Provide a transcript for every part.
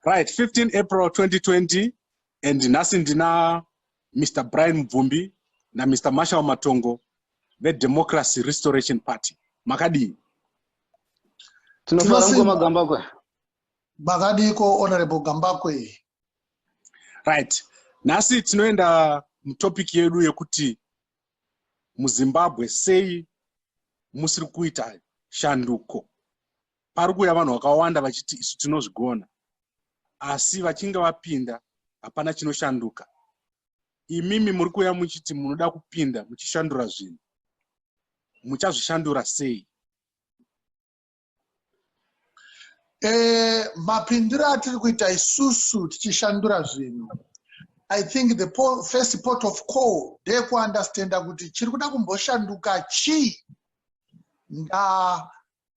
right 15 april 2020 and nhasi ndina mr brian mubvumbi namr marshal matongo vedemocracy restoration party makadii tinofara mukoma gambakwe makadiiko honorable gambakwe right nhasi tinoenda mutopic yedu yekuti muzimbabwe sei musiri kuita shanduko pari kuuya vanhu vakawanda vachiti isu tinozvigona asi vachinge vapinda hapana chinoshanduka imimi muri kuuya muchiti munoda kupinda muchishandura zvinhu muchazvishandura sei e, mapindiro atiri kuita isusu tichishandura zvinhu i think the po first port of call ndeyekuunderstanda kuti chiri kuda kumboshanduka chii nda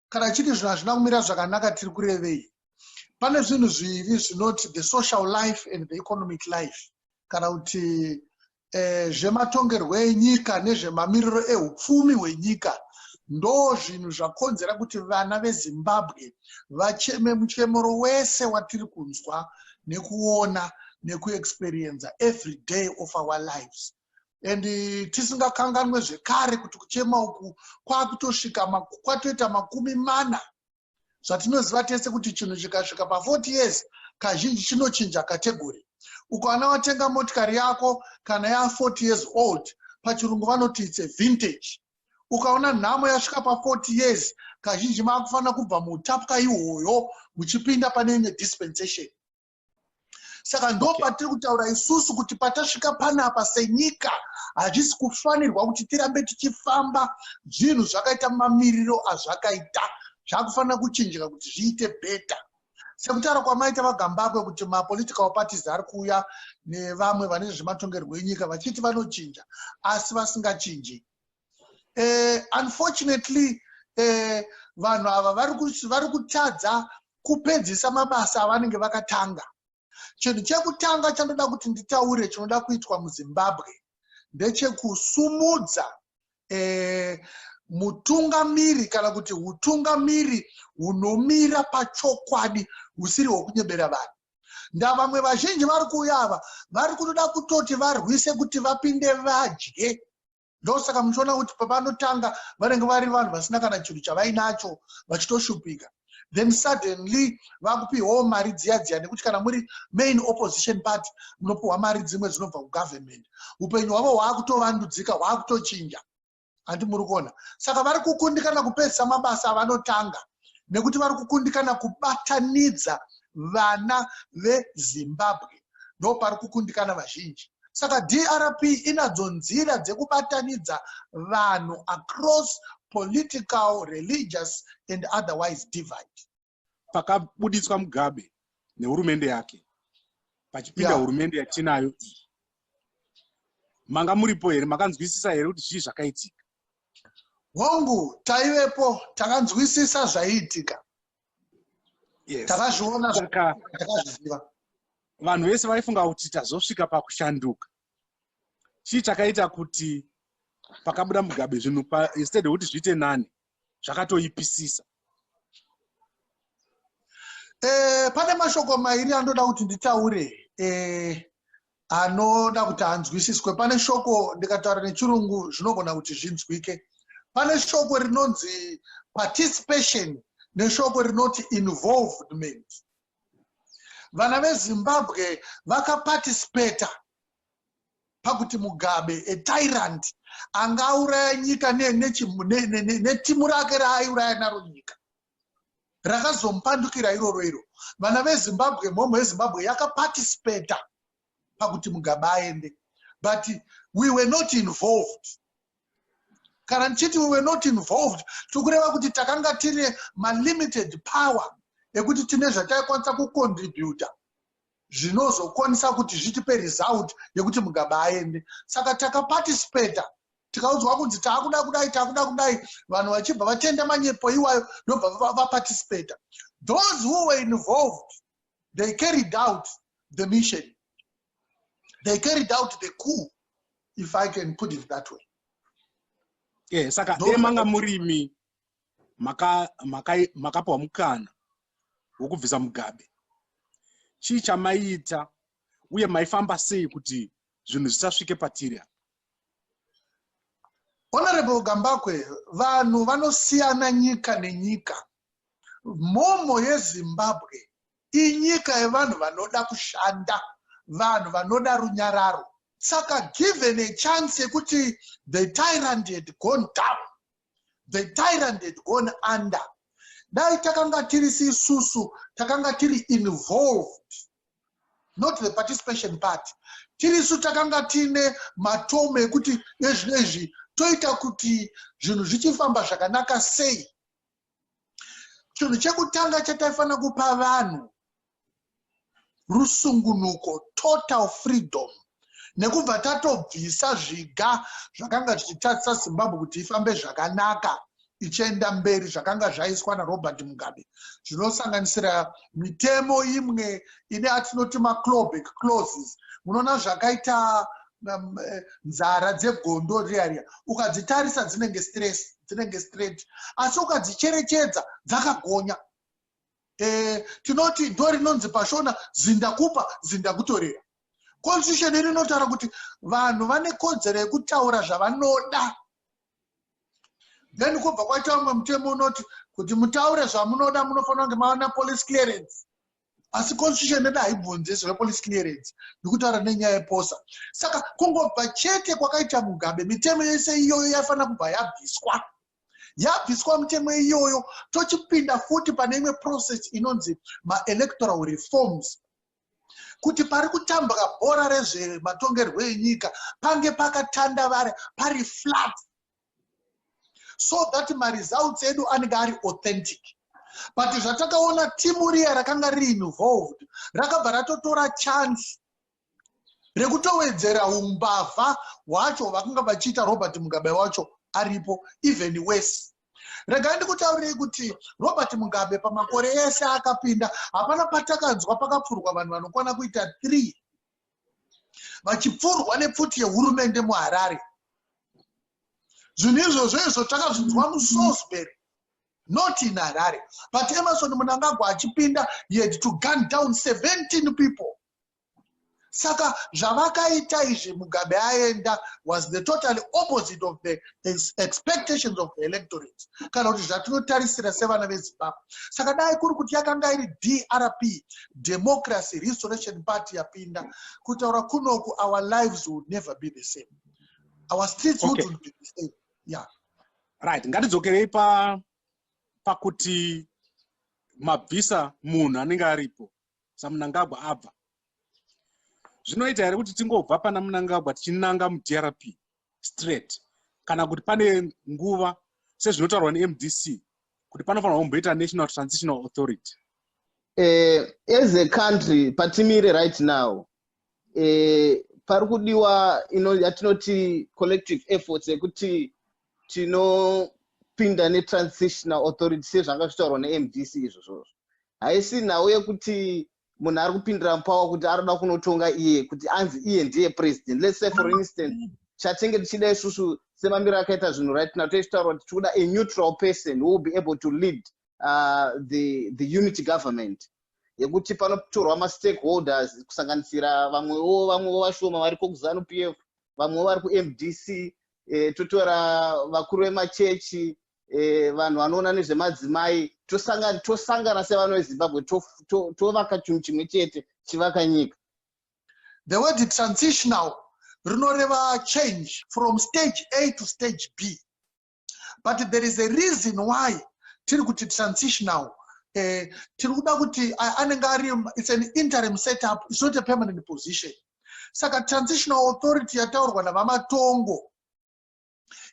kana achiti zvinhu hazvina kumira zvakanaka tiri kurevei pane zvinhu zviviri zvinoti the social life and the economic life kana kuti eh, zvematongerwo enyika nezvemamiriro eupfumi hwenyika ndo zvinhu zvakonzera kuti vana vezimbabwe vacheme muchemero wese watiri kunzwa nekuona nekuexperienza every day of our lives and eh, tisingakanganwe zvekare kuti kuchema uku kwakutosvika kwatoita makumi mana zvatinoziva tese kuti chinhu chikasvika pa40 years kazhinji chinochinja kategori ukawana watenga motikari yako kana ya40 years old pachirungu vanoti its a vintage ukaona nhamo yasvika pa40 years kazhinji maakufanira kubva muutapwa ihoyo muchipinda pane imwe dispensation saka ndo patiri kutaura isusu kuti patasvika panapa senyika hazvisi kufanirwa kuti tirambe tichifamba zvinhu zvakaita mamiriro azvakaita zvakufanira kuchinjika kuti zviite better sekutaura kwamaita vagambakwe kuti mapolitical parties ari kuuya nevamwe vane zvezvematongerwo enyika vachiti vanochinja asi vasingachinji uh, unfortunately uh, vanhu ava vari kutadza kupedzisa mabasa avanenge vakatanga chinhu chekutanga chandoda kuti nditaure chinoda kuitwa muzimbabwe ndechekusumudza eh, mutungamiri kana kuti utungamiri hunomira pachokwadi husiri hwokunyebera vanhu ndavamwe vazhinji vari kuuya ava vari kutoda kutoti varwise kuti vapinde vadye ndosaka muchiona kuti pavanotanga vanenge vari vanhu vasina kana chinhu chavainacho vachitoshupika then suddenly vakupiwawo mari dziya dziya nekuti kana muri main opposition party munopiwa mari dzimwe dzinobva kugovernment upenyu hwavo hwaakutovandudzika hwaakutochinja handi muri kuona saka vari kukundikana kupedzisa mabasa avanotanga nekuti vari kukundikana kubatanidza vana vezimbabwe ndopari kukundikana vazhinji saka drp inadzo nzira dzekubatanidza vanhu across political religious and otherwise divide pakabuditswa mugabe nehurumende yake pachipinda yeah. hurumende yatinayo iyi manga muripo here makanzwisisa here kuti zvii zvakaitika Hongu, taivepo, takanzwisisa zvaiitika. Yes. Takazviona zvakazviziva. Vanhu vese vaifunga kuti tazosvika pakushanduka. Chii chakaita kuti pakabuda Mugabe zvinhu instead kuti zviite nani zvakatoipisisa? Eh, pane mashoko mairi andoda kuti nditaure. Eh, anoda kuti anzwisiswe pane shoko ndikataura nechirungu zvinogona kuti zvinzwike pane shoko rinonzi participation neshoko rinoti involvement vana vezimbabwe vakaparticipata pakuti mugabe etyrant anga auraya nyika netimu rake raaiuraya naro nyika rakazomupandukira iroro iro vana vezimbabwe mhomho yezimbabwe yakaparticipata pakuti mugabe aende but we were not involved kana ndichiti we were not involved tiri kureva kuti takanga tine malimited power ekuti tine zvataikwanisa kucontributa zvinozokwanisa kuti zvitipe result yekuti mugabe aende saka takaparticipata tikaudzwa kunzi takuda kudai takuda kudai vanhu vachibva vatenda manyepo iwayo ndobva vaparticipata those who were involved they carried out the mission they carried out the coup if i can put it that way yeah, saka dai manga murimi makapiwa maka, maka mukana wokubvisa mugabe chii chamaiita uye maifamba sei kuti zvinhu zvisasvike patiri apa Honorable Gambakwe, vanhu vanosiyana nyika nenyika. Mhomho yeZimbabwe inyika yevanhu vanoda kushanda, vanhu vanoda runyararo. Saka given a chance yekuti the tyrant had gone down, the tyrant had gone under dai takanga tiri sisusu takanga tiri involved not the participation part tiri su takanga tiine matomo ekuti ezvi nezvi toita kuti zvinhu zvichifamba zvakanaka sei chinhu chekutanga chataifanira kupa vanhu rusungunuko, total freedom, nekubva tatobvisa zviga zvakanga zvichitadzisa Zimbabwe kuti ifambe zvakanaka ichienda mberi zvakanga zvaiswa naRobert Mugabe zvinosanganisira mitemo imwe ine atinoti maclobek clauses munoona zvakaita um, eh, nzara dzegondo riya riya ukadzitarisa dzinenge stress dzinenge straight asi ukadzicherechedza dzakagonya Eh, tinoti do rinonzi pashona zindakupa zindakutorera constitution iri inotaura kuti vanhu vane kodzero yekutaura zvavanoda then kubva kwaita umwe mutemo unoti kuti mutaure zvamunoda munofanira kunge maona police clearance asi constitution yedu haibvunzi zvepolice clearance ndikutaura nenyaya yeposa saka kungobva chete kwakaita mugabe mitemo yese iyoyo yaifanira kubva yabviswa yabviswa mutemo iyoyo tochipinda futi pane imwe process inonzi maelectoral reforms kuti pari kutambwa bhora rezvematongerwo enyika pange pakatandavara pari flat so that maresults edu anenge ari authentic but zvatakaona timu riya rakanga riinvolved rakabva ratotora chance rekutowedzera umbavha hwacho vakanga vachiita robert mugabe wacho aripo even wese regai ndikutaurirei kuti robert mugabe pamakore ese akapinda hapana patakanzwa pakapfurwa vanhu vanokwana kuita three vachipfurwa nepfuti yehurumende muharare zvinhu izvozvo izvo takazvinzwa musosbury not in harare but emerson munangagwa achipinda he had to gun down 17 people saka zvavakaita izvi mugabe aenda was the totally opposite of the expectations of the electorate kana kuti zvatinotarisira sevana vezimbabwe saka dai kuri kuti yakanga iri drp democracy restoration party yapinda kutaura kunoku our lives would never be the same our streets okay. wouldn't be the same yeah right ngatidzokerei pa pakuti mabvisa munhu anenge aripo samunangagwa abva zvinoita here kuti tingobva pana munangagwa tichinanga mudrp straight kana kuti pane nguva sezvinotaurwa nemdc kuti panofanira kumboita national transitional authority uh, as a country patimire right now e, pari kudiwa ino yatinoti collective efforts yekuti tinopinda netransitional authority sezvanga zvitaurwa nemdc izvozvozvo haisi nhau yekuti munhu ari kupindira mupawa kuti arikuda kunotonga iye kuti anzi iye ndiye president let's say for instance chatenge tichida isusu semamiro akaita zvinhu right now toichitaura kuti tikuda a neutral person who will be able to lead uh, the, the unity government yekuti panotorwa mastakeholders kusanganisira vamwewo vamwewo vashoma variko kuzanu p f vamwewo vari kumdc e, totora vakuru vemachechi e, vanhu vanoona nezvemadzimai tosangana tosangana sevano vezimbabwe tovaka to, to chinhu chimwe chete chivaka nyika the word transitional rinoreva change from stage a to stage b but there is a reason why tiri kuti transitional eh, tiri kuda kuti anenge ari its an interim setup its not a permanent position saka transitional authority yataurwa navamatongo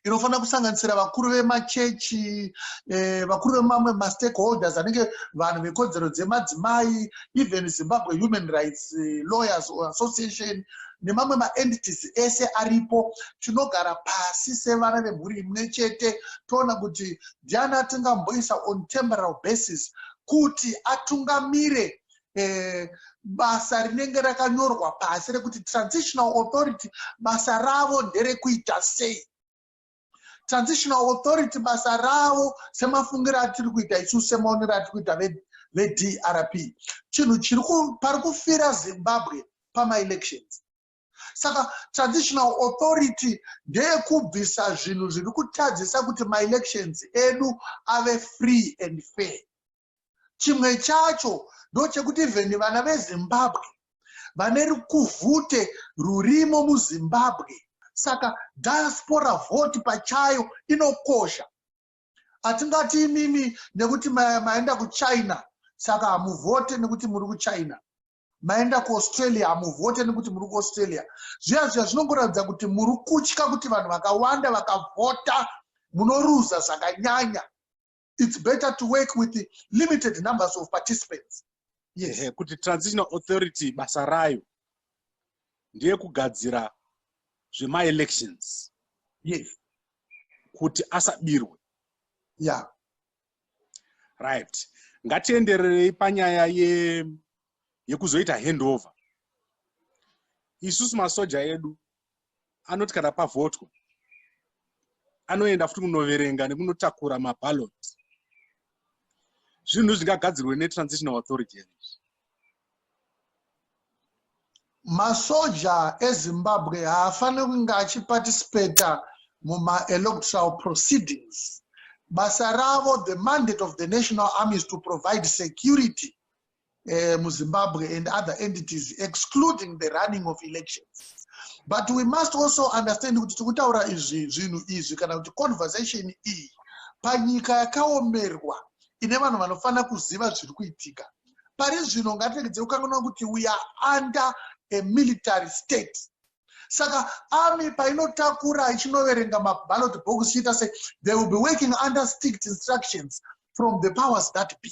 inofanira kusanganisira vakuru vemachechi eh, vakuru vemamwe mastakeholders anenge vanhu vekodzero dzemadzimai even zimbabwe human rights eh, lawyers or association nemamwe maentities ese aripo tinogara pasi sevana vemhuri imwe chete toona kuti ndiani atingamboisa on temporal basis kuti atungamire eh, basa rinenge rakanyorwa pasi rekuti transitional authority basa ravo nderekuita sei transitional authority basa ravo semafungiro atiri kuita isu semaonero atiri kuita vedrp chinhu chiri pari kufira zimbabwe pamaelections saka transitional authority ndeyekubvisa zvinhu zviri kutadzisa kuti maelections edu ave free and fair Chimwe chacho ndochekuti even vana veZimbabwe vane rukuvhute rurimo muZimbabwe saka diaspora vote pachayo inokosha. Hatingati imimi nekuti maenda kuChina saka hamuvote nekuti muri kuChina maenda kuaustralia hamuvote nekuti muri kuaustralia zviya zviya zvinongoratidza kuti muri kutya kuti vanhu vakawanda vakavhota munoruza zvakanyanya it's better to work with the limited numbers of participants yes. yeah, kuti transitional authority basa rayo ndiye kugadzira zvemaelections yes kuti asabirwe yeah right ngatiendererei panyaya ye yekuzoita handover isusu masoja edu anoti kana pavhotwa anoenda futi kunoverenga nekunotakura mabalot zvinhu zvingagadzirwe netransitional authority here masoja ezimbabwe haafaniri kunge achiparticipata mumaelectoral proceedings basa ravo the mandate of the national army is to provide security uh, muzimbabwe and other entities excluding the running of elections but we must also understand kuti tikutaura izvi zvinhu izvi kana kuti conversation iyi panyika yakaomerwa ine vanhu vanofanira kuziva zviri kuitika pari zvino ngatiregedze kukanganwa kuti we are under a military state saka army painotakura ichinoverenga maballot box ichiita se they will be working under strict instructions from the powers that be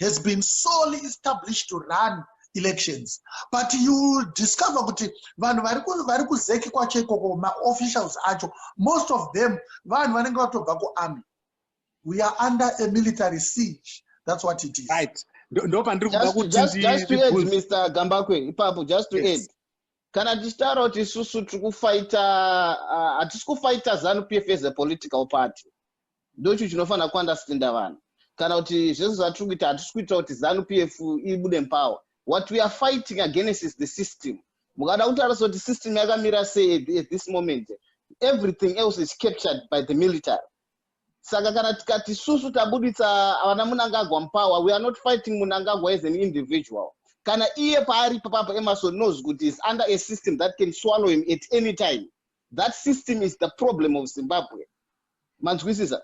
has been solely established to run elections but you will discover kuti vanhu vari kuzeki kwacho ikoko maofficials acho most of them vanhu vanenge vatobva kuarmy we are under a military siege that's what it is right ndopandiri kuda kutijustmr gambakwe ipapo just to add kana tichitaura kuti isusu tiri kufaita uh, hatisi kufaita zanu p f as a political party ndochu chinofanira kuunderstander vanhu kana kuti zvese zvatiri kuita hatisi kuitira kuti zanu p f ibude mupower what we are fighting against is the system mukada kutarisa kuti system yakamira sei at this moment everything else is captured by the military saka kana tikati susu tabuditsa vana munangagwa mupower we are not fighting munangagwa as an individual kana iye paari papapo emerson knows kuti is under a system that can swallow him at any time that system is the problem of zimbabwe manzwisisa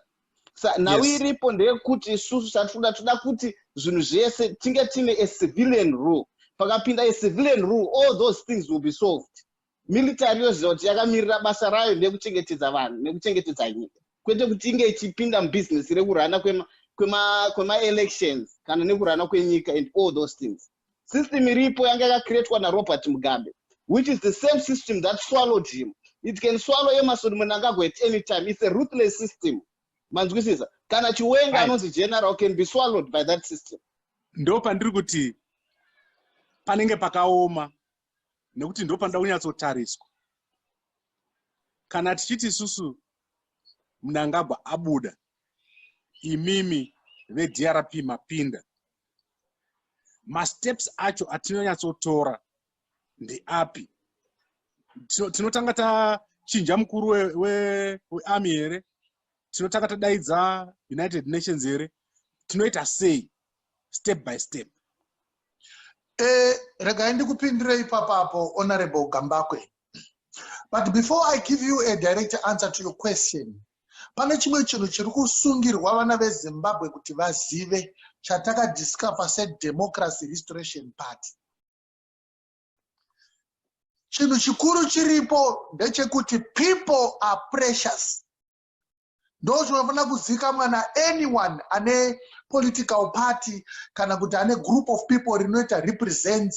sa nhau yes. iripo ndeyekuti isusu chatinoda toda kuti zvinhu zvese tinge tiine a civilian rule pakapinda a civilian rule all those things will be solved military yoziva kuti yakamirira basa rayo nekuchengetedza vanhu nekuchengetedza nyika kwete kuti inge ichipinda mubhizinesi rekurana kwemaelections kwema, kwema kana nekurana kwenyika and all those things system iripo yanga yakacreatwa narobert mugabe which is the same system that swallowed him it can swallow emerson munangagwa at any time it's a ruthless system manzwisisa kana chiwenga anonzi general can be swallowed by that system ndo pandiri kuti panenge pakaoma nekuti ndo panoda kunyatsotariswa kana tichiti isusu munangagwa abuda imimi vedrp mapinda masteps acho atinonyatsotora ndeapi tinotanga tachinja mukuru wearmy here tinotanga tadaidza united nations here tinoita sei step by step eh, regai ndikupindire ipapapo honorable gambakwe but before i give you a direct answer to your question Pane chimwe chinhu chiri kusungirwa vana veZimbabwe kuti vazive chatakadiscover seDemocracy Restoration Party. Chinhu chikuru chiripo ndechekuti people are precious. Ndochinofanira kuzikamwa naanyone ane political party kana kuti ane group of people rinoita represents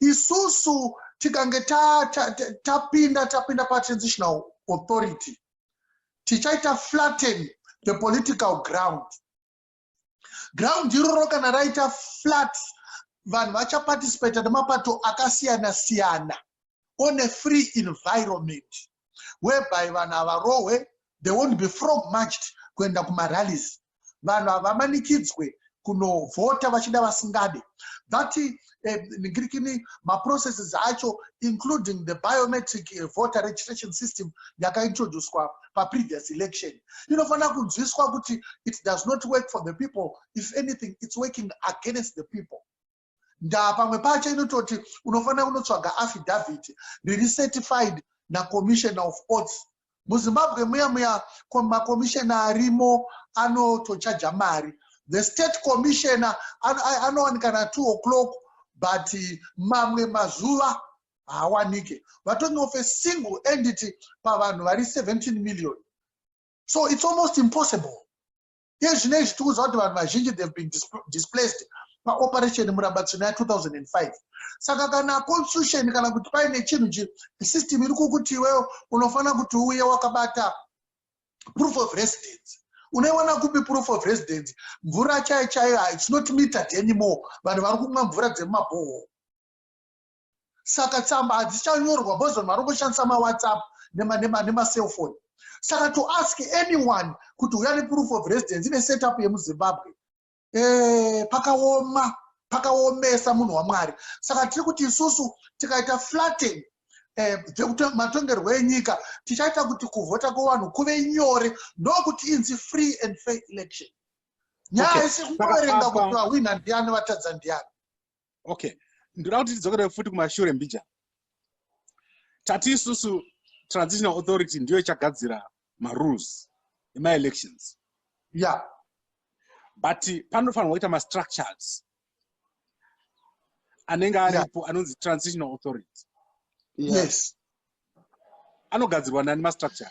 isusu tikange tapinda ta, ta, ta tapinda patransitional authority tichaita flatten the political ground ground iroro kana raita flat vanhu vachaparticipata nemapato akasiyana siyana on a free environment whereby vanhu havarohwe they won't be frog marched kuenda kumarallies vanhu havamanikidzwe kunovhota vachida vasingade but eh, ngirikini maprocesses acho including the biometric eh, voter registration system yakaintroducwa paprevious election inofanira kunzwiswa kuti it does not work for the people if anything its working against the people ndaa pamwe pacho inototi unofanira kunotsvaga affidavit riri certified nacommissioner of courts muzimbabwe muya muya macommissioner arimo anotochaja mari the state commissioner anowanikana two o'clock but mamwe mazuva haawanike vatonge of a single entity pavanhu vari 17 million so it's almost impossible Iye zvino izvi tiri kuziva kuti vanhu vazhinji they've been displaced paoperation murambatsvina ya 2005 saka kana constitution kana kuti paine chinhu chi system iri kukuti iwewo unofanira kuti uye wakabata proof of residence unoiwana kupi proof of residence mvura chaiyo chaiyo its not metered anymore vanhu vari kumwa mvura dzemumabhohoro saka tsamba hadzichanyorwa boz vanhu vari kushandisa mawhatsapp nemacellphone saka to ask anyone kuti uya neproof of residence ine setup yemuzimbabwe eh, pakaoma pakaomesa munhu wamwari saka tiri kuti isusu tikaita flatten eh, matongerwo enyika tichaita kuti kuvhota kwevanhu kuve nyore ndokuti inzi free and fair election nyaya isi kungoverenga kuti vahwina ndiani vatadza ndiani okay ndoda kuti tidzokere futi kumashure mbija tati isusu transitional authority ndiyo ichagadzira marules emaelections ya yeah. but panofanirwa kuita mastructures anenge aripo yeah. anonzi transitional authority yes, yes. anogadzirwa nani mastructure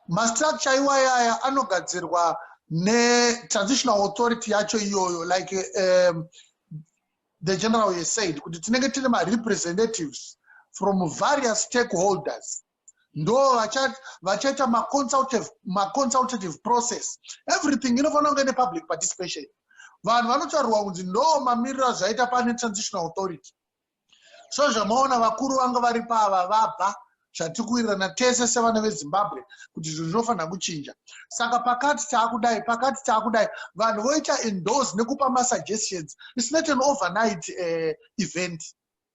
mastructure iwayaya anogadzirwa netrancitional authority yacho iyoyo like um, the general ye said kuti tinenge tine marepresentatives from various stakeholders ndo vachaita maconsultative process everything inofanira kunge nepublic participation vanhu vanotaurwa kunzi ndo mamiriro azvaita pane transitional authority so zvamaona vakuru vanga vari pava vabva zvatiri kuwirirana tese sevana vezimbabwe kuti zvinhu zvinofanira kuchinja saka pakati taakudai pakati taakudai vanhu voita endorse nekupa masuggestions isnot an overnight uh, event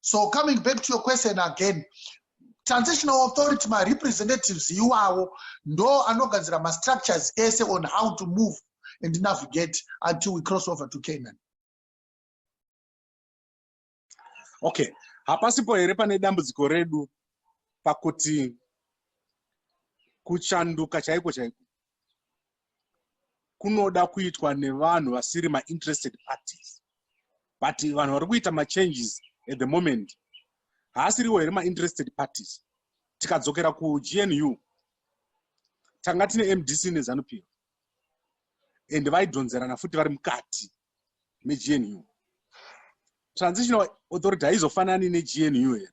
so coming back to your question again transitional authority marepresentatives iwawo ndo anogadzira mastructures ese on how to move and navigate until we cross over to canaan okay hapasipo here pane dambudziko redu pakuti kuchanduka chaiko chaiko kunoda kuitwa nevanhu vasiri mainterested parties but vanhu vari kuita machanges at the moment haasiriwo here mainterested parties tikadzokera kugnu tanga tine mdc nezanup and vaidhonzerana futi vari mukati megnu transitional authority haizofanani negnu here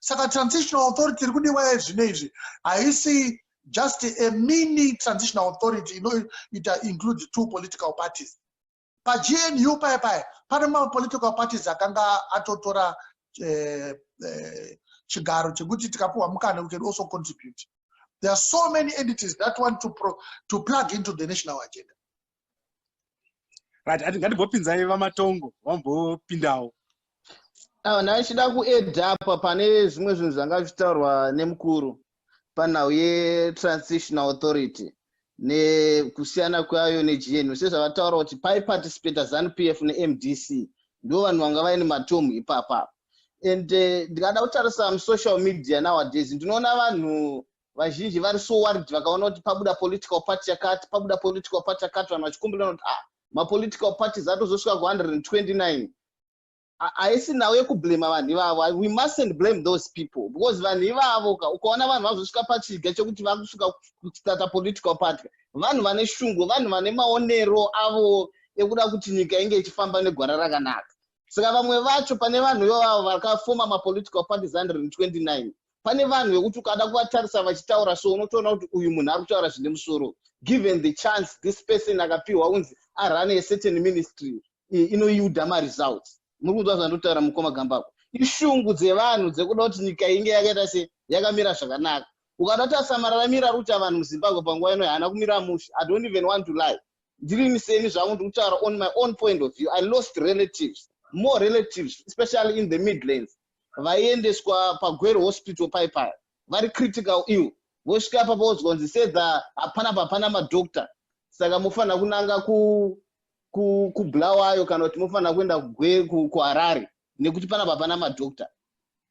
saka transitional authority iri kudiwa yezvino izvi haisi just a mini transitional authority inoita include two political parties pagnu paya paya pane mapolitical parties akanga atotora eh, eh, chigaro chekuti tikapiwa mukana we can also contribute there are so many entities that want to, pro, to plug into the national agenda right ati ngatimbopinzai vamatongo vambopindawo awa ndaichida kuedha apa pane zvimwe zvinhu zvanga zvitaurwa nemukuru panhau yetransitional authority nekusiyana kwayo negnu sezvavataura kuti paiparticipata zanup f nemdc ndo vanhu vanga vaine matomu ipapa and eh, ndikada kutarisa musocial media nowadays ndinoona vanhu vazhinji vari so worried vakaona kuti pabuda political party yakati pabuda political party yakati vanhu vachikumbirana kuti ah mapolitical parties atozosvika ku129 haisi nhau yekublema vanhu ivavo we mustn't blame those people because vanhu ivavo ka ukaona vanhu vazosvika pachiga chekuti vakusvika kustata political party vanhu vane shungu vanhu vane maonero avo ekuda kuti nyika inge ichifamba negwara rakanaka saka vamwe vacho pane vanhu ivavo vakafoma mapolitical parties 129 pane vanhu vekuti ukada kuvatarisa vachitaura so unotoona kuti uyu munhu ari kutaura zvine musoro given the chance this person akapiwa unzi arane yecertain ministry inoyuda maresults muri kunzwa zvandotaura mukoma gambako ishungu dzevanhu dzekuda kuti nyika inge yakaita se yakamira zvakanaka ukada kuti asamararamira ruta vanhu muzimbabwe panguva ino haana kumira mushe i don't even want to lie ndirini seni zvangu ndikutaura on my own point of view i lost relatives more relatives especially in the midlands vaiendeswa pagwero hospital paipaya vari critical ill vosvika papa wozwa kunzi sedza hapana papana madoctor saka mofanira kunanga kubulawayo kana kuti mofanira kuenda kuharare nekuti pana papana madoctor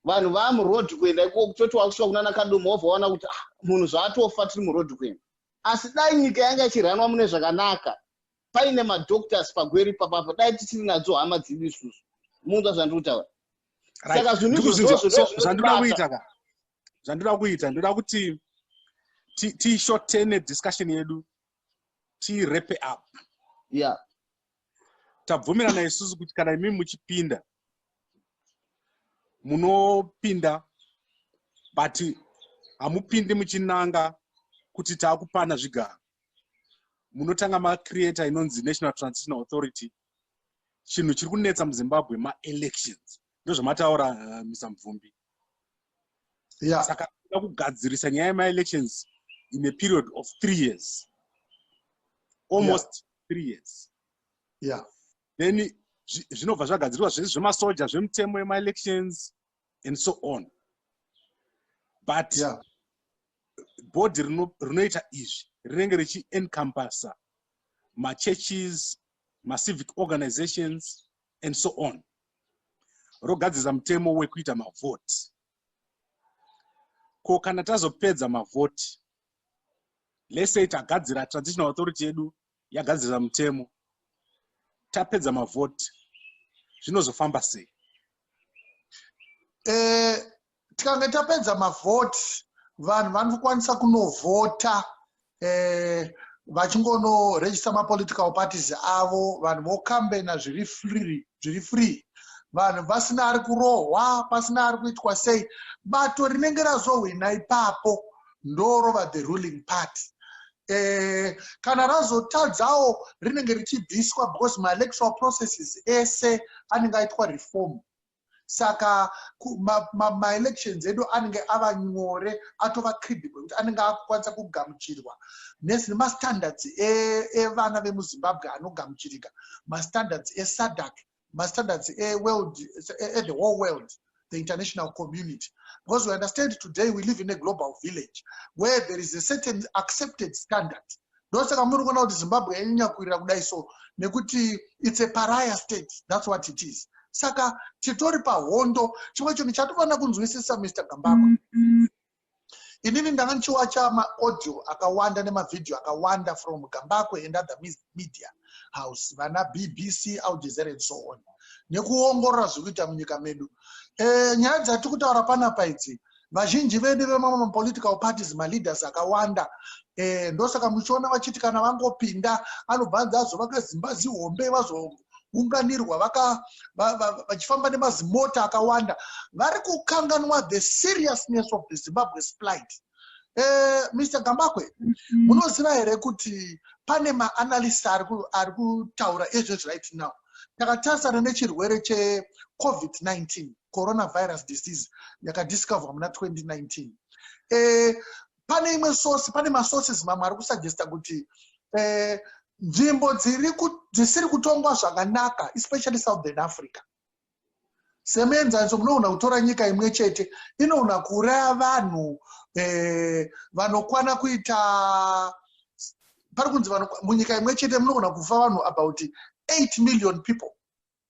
vanhu vaa muroad kuenda ikoko kutoti wakusvika kunana kadomo wobva waona kuti ah, munhu zvaatofa tiri muroad kuenda asi dai nyika yanga ichiranwa mune zvakanaka paine madoctors pagweri papapo dai tisiri nadzo hama dzedu isusu munzwa zvandiri kutaura saka zvinhuzvandinoda kuita ka zvandinoda kuita ndinoda kuti tishotene discussion yedu tirepe up yeah tabvumirana isusu kuti kana imimi muchipinda munopinda but hamupindi muchinanga kuti taakupana zvigaro munotanga macreator inonzi national transitional authority chinhu chiri kunetsa muzimbabwe maelections ndozvamataura uh, eh, mr mvumbi yeah. saka toda kugadzirisa nyaya yemaelections in a period of three years almost yeah. three years yeah. then zvinobva zvagadzirwa zvese zvemasoja zvemitemo yemaelections and so on but yeah. bhodhi rinoita izvi rinenge richiencompasa machurches macivic organizations and so on rogadzirisa mutemo wekuita mavhoti ko kana tazopedza mavhoti lesay tagadzira traditional authority yedu yagadzirisa mutemo tapedza mavhoti zvinozofamba sei eh, tikange tapedza mavhoti vanhu vanokwanisa kunovhota eh, vachingonorejista mapolitical parties avo vanhu vokambena zviri free zviri free vanhu vasina ari kurohwa pasina ari kuitwa sei bato rinenge razohwina ipapo ndorova the ruling party eh, kana razotadzawo rinenge richibviswa because maelectoral processes ese anenge aitwa reform saka maelections ma, ma edu anenge ava nyore atova credible kuti anenge akukwanisa kugamuchirwa nesi nemastandards evana e vemuzimbabwe anogamuchirika mastandards esadak mastandards eworld ethe whole world the international community because we understand today we live in a global village where there is a certain accepted standard ndosaka muri kuona kuti zimbabwe yanyanya kuirira kudai so nekuti its a paraya state thats what it is saka titori pahondo chimwe chinhu chatofanira kunzwisisa mr gambakwe inini ndanga ndichiwacha maaudio akawanda nemavhidhiyo akawanda from gambakwe and other media house vana bbc aljezera and so on nekuongorora zviri kuita munyika medu e, nyaya dzatiri kutaura panapa idzi vazhinji vedu vemamwe mapolitical parties maleaders akawanda e, ndosaka muchiona vachiti kana vangopinda anobva anzi azovaka zimba zihombe vazounganirwa vachifamba nemazimota akawanda vari kukanganwa the seriousness of the zimbabwe splight e, eh, mr gambakwe mm-hmm. munoziva mm -hmm. here kuti pane maanalist ari kutaura ezvezvi right now takatarisana nechirwere checovid 19 coronavirus disease yakadiscoverwa muna 2019 eh, pane imwe source pane masources mamwe ari kusuggesta kuti eh, nzvimbo dzisiri kutongwa zvakanaka especially southern africa semuenzaniso munoona kutora nyika imwe chete inoona kuuraya vanhu eh, vanokwana kuita pari kunzi munyika imwe chete munoona kufa vanhu about 8 million people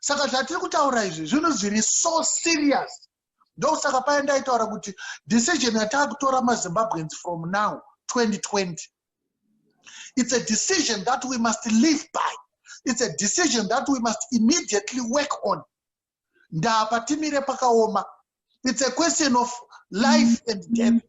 saka zvatiri kutaura izvi zvinhu zviri so serious ndosaka paye ndaitaura kuti decision yataakutora mazimbabweans from now 2020 it's a decision that we must live by it's a decision that we must immediately work on ndaapatimire pakaoma it's a question of life and death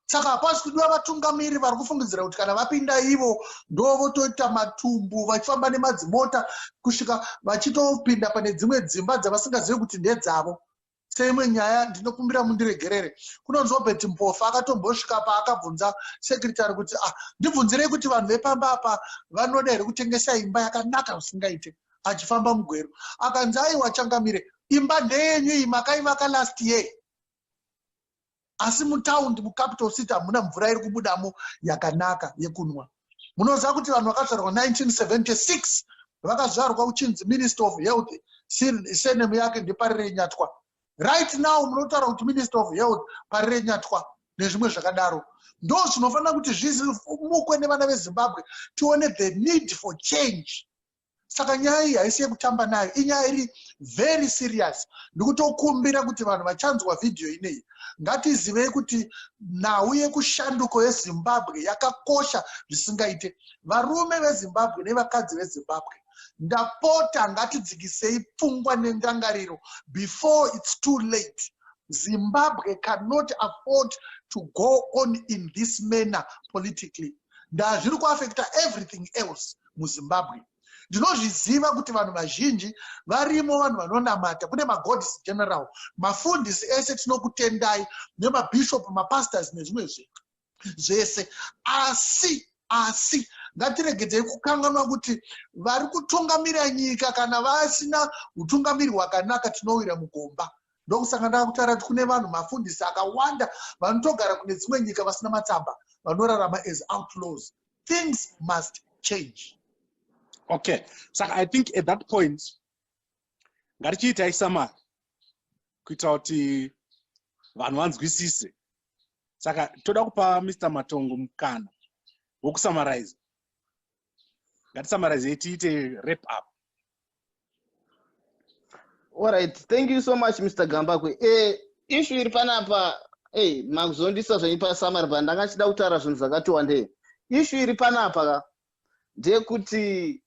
saka hapasi kudiwa vatungamiri vari kufungidzira kuti kana vapinda ivo ndo votoita matumbu vachifamba nemadzimota kusvika vachitopinda pane dzimwe dzimba dzavasingazivi kuti ndedzavo seimwe nyaya ndinokumbira mundiregerere kunonzi obert mpofa akatombosvika paakabvunza sekretary kuti ah ndibvunzirei kuti vanhu vepamba apa vanoda here kutengesa imba yakanaka zvisingaite achifamba mugweru akanzi aiwa changamire imba ndeyenyu iyi makaivaka last year asi mutaundi mucapital city hamuna mvura iri kubudamo yakanaka yekunwa munoziva kuti vanhu vakazvarwa 1976 vakazvarwa uchinzi minister of health senem yake ndepari renyatwa right now munotaura kuti minister of health pari renyatwa nezvimwe zvakadaro ndo zvinofanira kuti zvizimukwe nevana vezimbabwe tione the need for change saka nyaya iyi haisi yekutamba nayo inyaya iri very serious ndikutokumbira kuti vanhu vachanzwa vhidhiyo inei ngatizivei kuti nhau yekushanduko yezimbabwe yakakosha zvisingaite varume vezimbabwe nevakadzi vezimbabwe ndapota ngatidzikisei pfungwa nendangariro before its too late zimbabwe cannot afford to go on in this manner politically ndaa zviri kuaffecta everything else muzimbabwe ndinozviziva kuti vanhu vazhinji varimo vanhu vanonamata kune magods general mafundisi ese tinokutendai nemabishop mapastors nezvimwe zvinhu zvese asi asi ngatiregedzei kukanganwa kuti vari kutungamira nyika kana vasina utungamiri hwakanaka tinowira mugomba ndokusanga ndakutaura kuti kune vanhu mafundisi akawanda vanotogara kune dzimwe nyika vasina matsamba vanorarama as outlaws things must change okay saka i think at that point ngatichiitai samari kuita kuti vanhu vanzwisise saka toda kupa mr matongo mukana wokusamarize ngatisamarize tiite rep up Alright, thank you so much Mr. Gambakwe. Eh, issue iri panapa hey, eh, makuzondisa zvenyu pasamari pa ndanga chida kutaura zvinhu zvakati wandei. Issue iri panapa ka ndeyekuti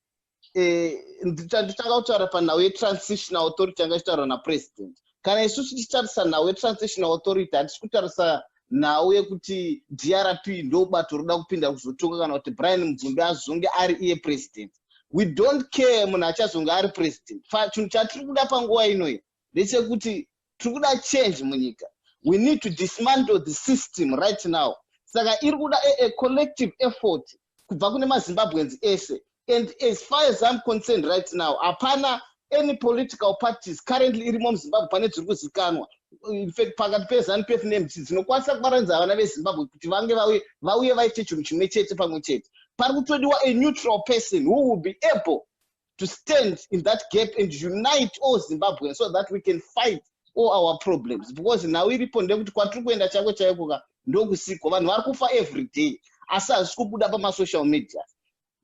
eh, nditanga kutaura panhau yetransitional authority yanga ichitaurwa napresident. kana isu tichitarisa nhau yetransitional authority hatisi kutarisa nhau yekuti drp ndobato roda kupinda kuzotonga kana kuti brian mubvumbi azonge ari iye president we don't care munhu achazonge ari president chinhu chatiri kuda panguva inoyi ndechekuti tiri kuda change munyika we need to dismantle the system right now saka iri kuda a collective effort kubva kune mazimbabweans ese and as far as im concerned right now hapana any political parties currently irimo muzimbabwe pane dziri kuzikanwa infact pakati pezanu pf nemc dzinokwanisa kubaranidza vana vezimbabwe kuti vange vauye vauye vaite chinhu chimwe chete pamwe chete pari kutodiwa a neutral person who will be able to stand in that gap and unite all zimbabwean so that we can fight all our problems because nhau iripo ndekuti kwatiri kuenda chako chaikoka ndokusiko vanhu vari kufa every day asi hazvisi kubuda pamasocial media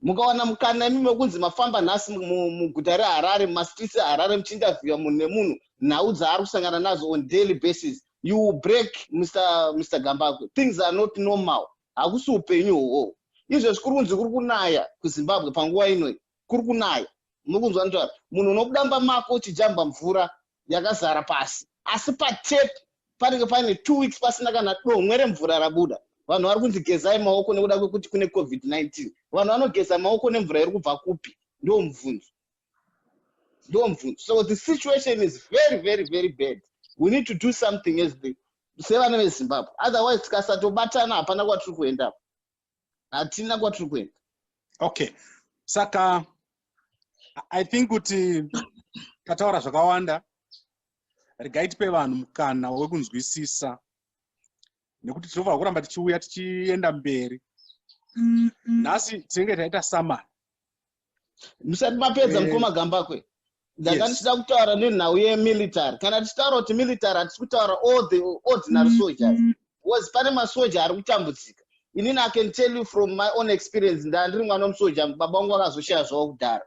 mukawana mukana imi mekunzi mafamba nhasi muguta reharare mumastreets eharare muchiinterviewa munhu nemunhu nhau dzaari kusangana nazo on daily basis you will break mr, mr gambakwe things are not normal hakusi upenyu hwohwohwo izvezvi kuri kunzi kuri kunaya kuzimbabwe panguva inoi kuri kunaya mukunzwa nzva munhu unokudamba mako uchijamba mvura yakazara pasi asi patep panenge paine two weeks pasina kana domwe remvura rabuda vanhu vari kunzi gezai maoko nekuda kwekuti kune covid-19 vanhu vanogeza maoko nemvura iri kubva kupi ndo mubvunzo ndo mubvunzo so the situation is very very very bad we need to do something as the sevana vezimbabwe otherwise tikasatobatana hapana kwatiri kuendapo hatina kwatiri kuenda okay saka i think kuti tataura zvakawanda regai tipe vanhu mukana wekunzwisisa nekuti tinofanira kuramba tichiuya tichienda mberi mm, mm. nhasi tinenge taita samani musati mapedza eh. mukoma gambakwe ndanga ndichida kutaura nenhau yemilitary kana tichitaura kuti military hatisi kutaura all the ordinary soldiers mm-hmm. bcause pane masoja ari kutambudzika inini i can tell you from my own experience ndaa ndiri mwana wemusoja baba wangu vakazoshaya zvavo kudhara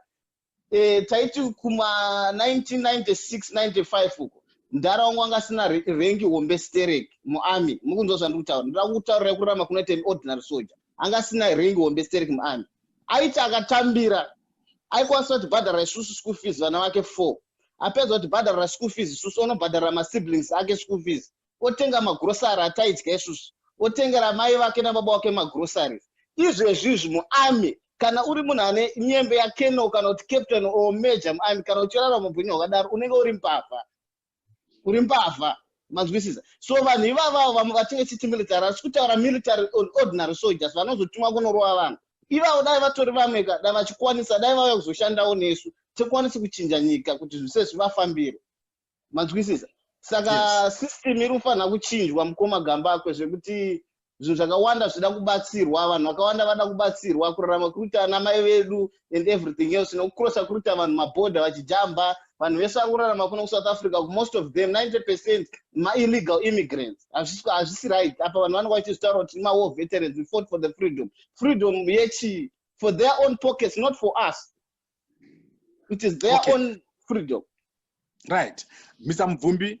eh, taiti kuma 199695 uko mdhara wangu anga asina rengi hombe sterek muarmy mukunzwa zvandiri kutaura ndira kutaurira kurama kunoita ordinary soldier anga asina rengi hombe sterek muarmy aiti akatambira aikwanisa kutibhadharira isusu school fees vana vake four apedza kutibhadharira school fees isusu onobhadharira masiblings ake school fees otenga magrosary ataidya isusu otengera mai vake nababa wake magrosaries izvezvi izvi muarmy kana uri munhu ane nyembe yakeno kana kuti captain or major muarmy kana uchirara mupenyu hwakadaro unenge uri mbavha uri mbavha mazwisisa so vanhu ivavavo vamwe vatinge chiti military asi kutaura military ordinary soldiers vanozotumwa kunorova vanhu ivavo dai vatori vamwe ka dai vachikwanisa dai vauya kuzoshandawo nesu tikwanisi kuchinja nyika kuti zvise zvivafambire mazwisisa saka yes. system iri kufanira kuchinjwa mukoma gamba akwe zvekuti zvinhu zvakawanda zvida kubatsirwa vanhu vakawanda vada kubatsirwa kurarama kuruita ana mai vedu and everything else nokucrossa kuruita vanhu maborder vachijamba vanhu vese vari kurarama kuno kusouth africa kumost of them 90 percent maillegal immigrants hazvisi right apa vanhu vanenge vachizvitaura kuti mawar veterans we fought for the freedom freedom yechii for their own pockets not for us it is their okay. own freedom right misa mubvumbi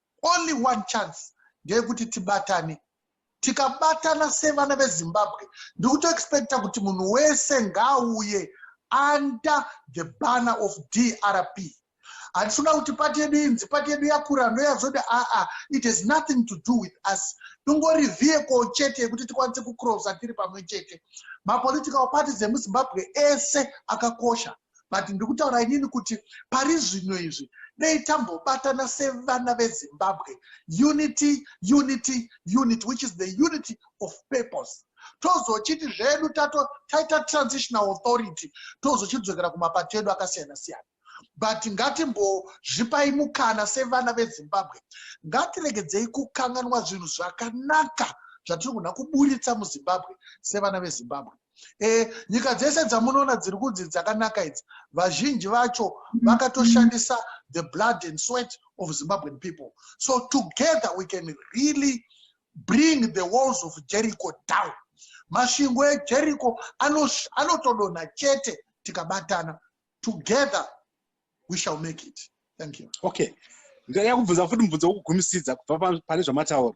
Only one chance ndeyekuti tibatane. Tikabatana sevana veZimbabwe ndikuto expecta kuti munhu wese ngaauye under the banner of DRP. Hatisikuda kuti pati yedu inzi pati yedu yakura ndoyazode aa it has nothing to do with us. Ingori vehicle chete yekuti tikwanise kucrossa tiri pamwe chete. Mapolitical parties emuZimbabwe ese akakosha. but ndiri kutaura inini kuti pari zvino izvi dei tambobatana sevana vezimbabwe unity unity unity which is the unity of purpose tozochiti zvedu tato taita transitional authority tozochidzokera kumapato edu akasiyana siyana but ngatimbozvipai mukana sevana vezimbabwe ngatiregedzei kukanganwa zvinhu zvakanaka zvatiri kuna kuburitsa muzimbabwe sevana vezimbabwe e, nyika dzese dzamunoona dziri kunzi dzakanaka idzi vazhinji vacho mm-hmm. vakatoshandisa the blood and sweat of zimbabwean people so together we can really bring the walls of jericho down masvingo ejericho anotodonha ano chete tikabatana together we shall make it thank you okay ndaya kubvunza futi mubvunzo wokugumisidza kubva pane zvamataura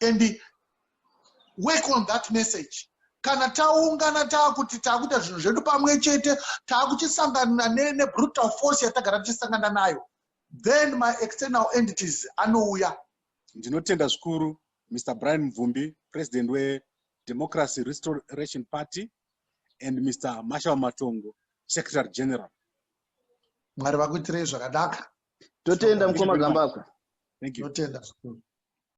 and work on that message kana taungana taakuti taakuita zvinhu zvedu pamwe chete taakuchisangana nebrutal force yatagara tichisangana nayo then my external entities anouya ndinotenda zvikuru mr brian mvumbi president wedemocracy restoration party and mr marshal matongo secretary general mwari vakuitirei zvakadaka totenda mukoma gambakwe totenda zvikuru